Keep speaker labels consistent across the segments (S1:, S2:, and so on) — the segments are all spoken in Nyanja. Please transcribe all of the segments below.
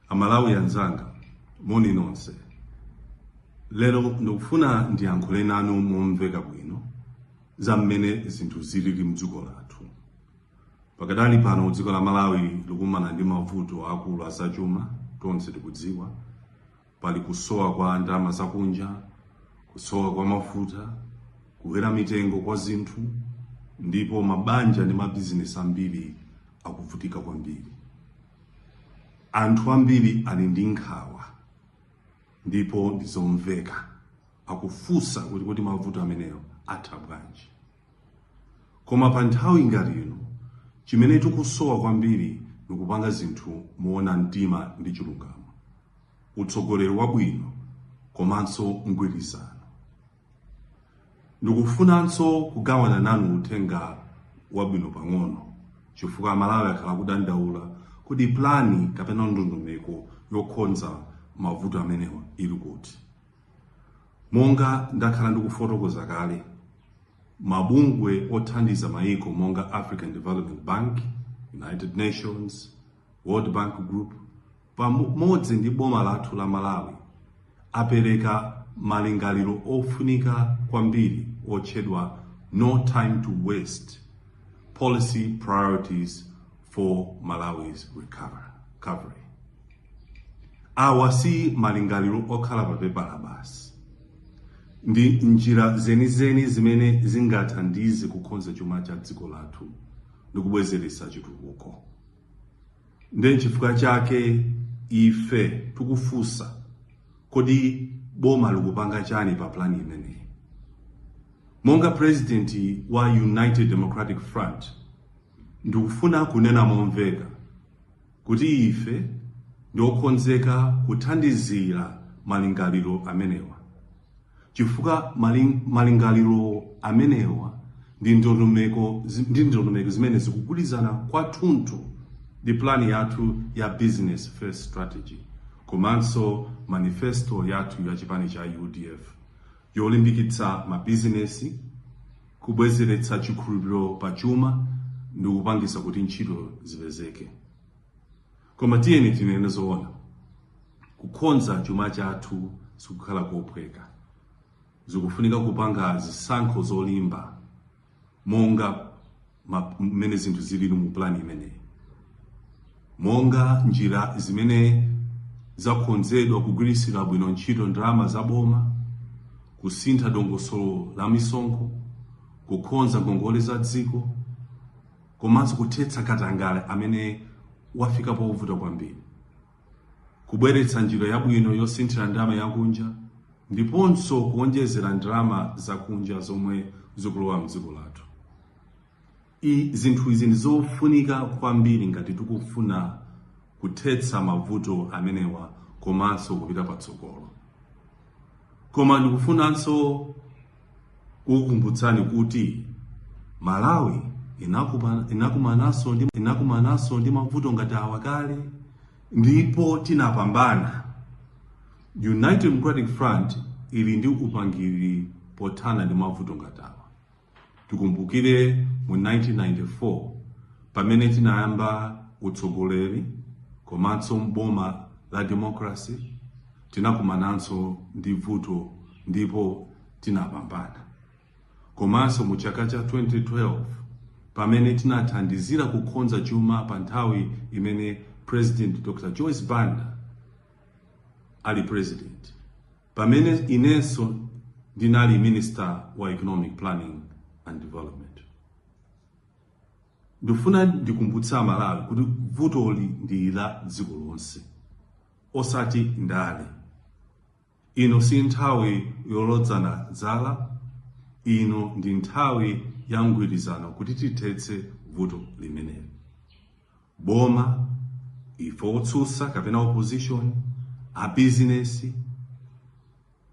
S1: amalawi anzanga moni nonse lero ndikufuna ndiyankhule nanu momveka bwino za mmene zinthu zilili mdziko lathu pakadali pano dziko la malawi likumana ndi mavuto akulu azachuma tonse tikudziwa pali kusowa kwa ndalama zakunja kusowa kwa mafuta kukwera mitengo kwa zinthu ndipo mabanja ndi mabizinesi ambiri akuvutika kwambiri anthu ambiri ali ndi nkhawa ndipo ndizomveka akufunsa kuti kodi mavuto amenewa atha bwanji Koma pa nthawi ngati ino, chimene tikusowa kwambiri ni kupanga zinthu moona mtima ndi chilungamo, utsogoleri wabwino komanso mgwirizano. Ndikufunanso kugawana nanu uthenga wabwino pang'ono chifukwa Amalawi akhala akudandaula kodi pulani kapena ndondomeko yokonza mavuto amenewa ili kuti. Monga ndakhala ndikufotokoza kale, mabungwe othandiza mayiko monga African Development Bank, United Nations, World Bank Group pamodzi ndi boma lathu la Malawi apereka malingaliro ofunika kwambiri otchedwa no time to waste policy priorities for Malawi's recovery. Awa si malingaliro okhala pa pepala basi. Ndi njira zenizeni zimene zingathandize kukonza chuma cha dziko lathu ndi kubwezeretsa chitukuko. Ndiye n'chifukwa chake ife tikufunsa, kodi boma likupanga chani pa pulani imeneyi? Monga pulezidenti wa United Democratic Front, ndikufuna kunena momveka kuti ife ndi okhonzeka kuthandizira malingaliro amenewa, chifukwa malingaliro amenewa ndi ndondomeko zimene zikugwirizana kwathunthu ndi plani yathu ya business first strategy komanso manifesto yathu ya chipani cha UDF yolimbikitsa mabizinesi kubwezeretsa chikhulupiriro pa chuma ndi kupangitsa kuti ntchito zipezeke. Koma tiyeni tinene zoona, kukhonza chuma chathu sikukhala kophweka. Zikufunika kupanga zisankho zolimba monga mmene zinthu zilili mu pulani imeneyi. Monga njira zimene zakhonzedwa kugwiritsira bwino ntchito ndalama za boma, kusintha dongosolo la misonkho, kukhonza ngongole za dziko, komanso kuthetsa katangale amene wafika povuta kwambiri, kubweretsa njira yabwino yosinthira ndalama yakunja, ndiponso kuwonjezera ndalama zakunja zomwe zikulowa m'dziko lathu. Zinthu izi ndi zofunika kwambiri ngati tikufuna kuthetsa mavuto amenewa komanso kupita patsogolo koma ndikufunanso kukukumbutsani kuti malawi inakumananso ndi mavuto ngati awa kale ndipo tinapambana united democratic front ili ndi upangiri pothana ndi mavuto ngati awa Tikumbukire mu 1994 pamene tinayamba utsogoleri komanso mboma la democracy tinakumananso ndi vuto ndipo tinapambana. Komanso mu chaka cha 2012 pamene tinathandizira kukhonza chuma pa nthawi imene President Dr. Joyce Banda ali president pamene inenso ndinali minister wa economic planning and development ndifuna ndikumbutsa amalawi kuti vutoli ndi la dziko lonse osati ndale ino si nthawi yolodzana dzala ino ndi nthawi ya mgwirizano kuti tithetse vuto limeneli boma ife otsutsa kapena opposition abizinesi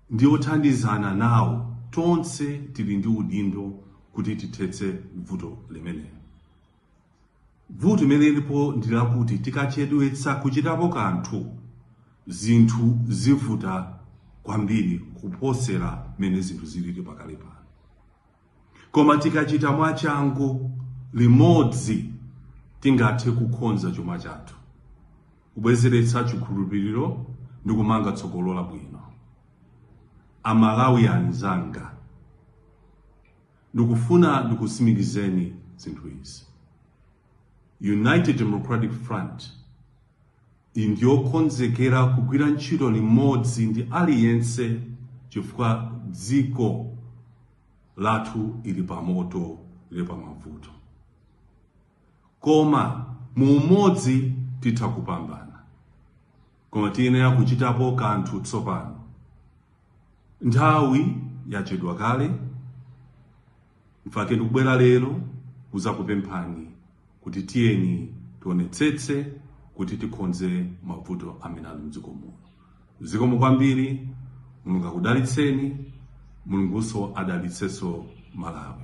S1: ndi othandizana nawo tonse tili ndi udindo kuti tithetse vuto limeneli vuto limene lilipo ndi lakuti tikachedwetsa kuchitapo kanthu zinthu zivuta kwambiri kuposera mmene zinthu zilili pakali pano Koma tikachita mwachangu limodzi, tingathe kukonza chuma chathu, kubwezeretsa chikhulupiriro ndi kumanga tsogolo labwino. Amalawi anzanga, ndikufuna ndikutsimikizeni zinthu izi. United Democratic Front Ndi yokonzekera kugwira ntchito limodzi ndi aliyense chifukwa dziko lathu ili pa moto, lili pa mavuto. Koma mu umodzi titha kupambana. Koma tiyenera kuchitapo kanthu tsopano. Nthawi yachedwa kale. Nchifukwa chake ndikubwera lero kuzakupemphani kuti tiyeni tionetsetse kuti tikhonze mavuto amene ali mdziko muno. Zikomo kwambiri, Mulungu akudalitseni, Mulungunso adalitsenso Malawi.